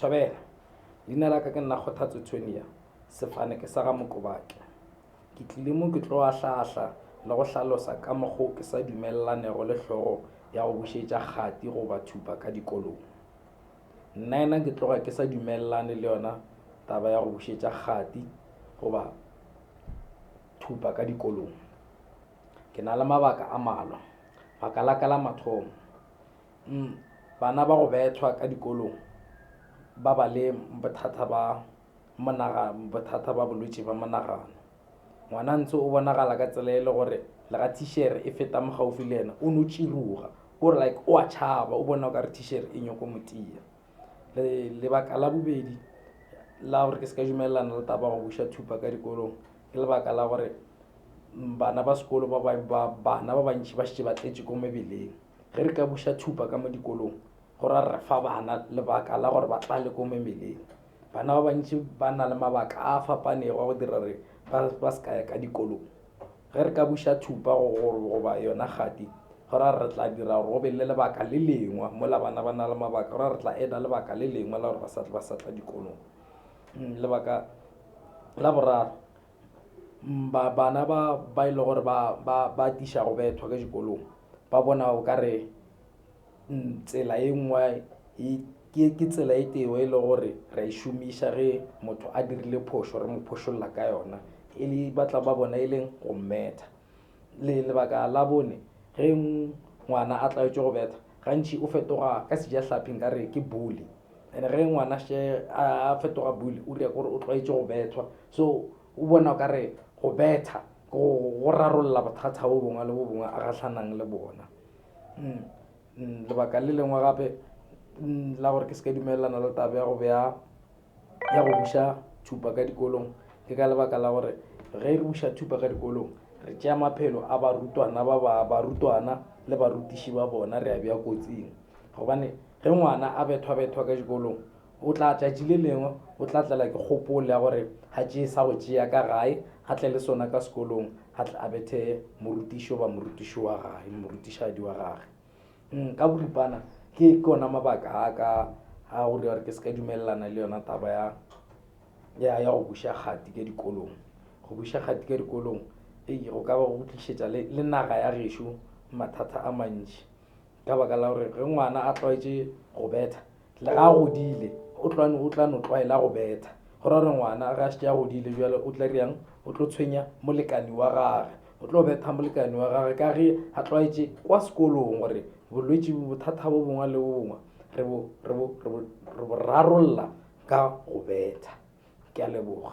Thobela, Leina la ka ke nna Kgothatso Tonia, sefane ke sa ga Mokobake. Ke tlile mo ke tlo ahla-ahla le go hlalosa ka mokgo ke sa dumelanego le hlogo ya go bušetša kgati goba thupa ka dikolong. Nnaena ke tloga ke sa dumelelane le yona taba ya go bušetša kgati goba thupa ka dikolong. Ke na le mabaka a malwa. Baka la ka la mathomo, Umm bana ba go bethwa ka dikolong ba ba le bothata ba monagano, bothata ba bolwetši ba monagano. Ngwana ntse o bonagala ka tsela e le gore le ga thishere e feta mo gaufi le ena o no tširuga o re like o a tšhaba o bona o ka re thishere e nyoko motia. Lebaka la bobedi la gore ke se ka dumelelana le taba ya go buša thupa ka dikolong ke lebaka la gore bana ba sekolo ba bana ba bantši ba šetše ba tletše ko mebeleng. Ge re ka buša tšhupa ka mo dikolong, go ra re fa bana lebaka la gore ba tlale ko memeleng. Bana ba bantši ba na le mabaka a a fapanego a go dira gore ba se ka ya ka dikolong. Ge re ka buša tšhupa goba yona kgati, go ra re tla dira gore go be le lebaka le lengwe. Mola bana ba na le mabaka, go ra re tla eda lebaka le lengwe la gore ba sa tla dikolong. Lebaka la boraro, ba bana ba ba ile e gore ba ba ba tiša go bethwa ke dikolong ba bona o ka re mm, tsela e nngwe e, ke ke tsela e teo e le gore ra e šomiša ge motho a dirile phošo re mo phošolla ka yona e le batla ba bona e leng go mmetha Le lebaka la bone, ge ngwana a tlaetšwe go betha, gantši o fetoga ka sejahlapi nka re ke bully. And ge ngwana še a fetoga bully, o dira kore o tlwaetše go bethwa. So o bona o ka re go betha ke go rarolla bothata bo bongwe le bo bongwe a gahlanang le bona. Lebaka le lengwe gape la gore ke se ka dumelelana le taba ya go bea ya go buša thupa ka dikolong ke ka lebaka la gore ge re buša thupa ka dikolong re tšea maphelo a barutwana ba ba barutwana le barutiši ba bona re a bja kotsing gobane ge ngwana a bethwa-bethwa ka dikolong o tla tšatši le lengwe o tla tlela ke kgopolo ya gore ga tšee sa go tšea ka gae a tle le sona ka sekolong a tle a bethe morutišo ba morutiši wa gae morutišadi wa gage Mm, ka boripana ke ke ona mabaka a ka a go dira gore ke se ka dumelelana le yona taba ya ya ya go buša kgati ka dikolong go buša kgati ka dikolong ei go ka ba go tlišetša le, le naga ya gešo mathata a mantši ka baka la gore ge ngwana a tlwaetše go betha Le ge a godile, o tla, o tla no tlwaela go betha. Go ra gore ngwana ge a šetše a godile bjale o tla dira'ng? O tlo tshwenya molekani wa gage. O tlo betha molekani wa gage ka ge a tlwaetše kwa sekolong gore bolwetši bo, bothata bo bongwe le bo bongwe re bo, re bo, re bo, re bo rarolla ka go betha. Ke a leboga.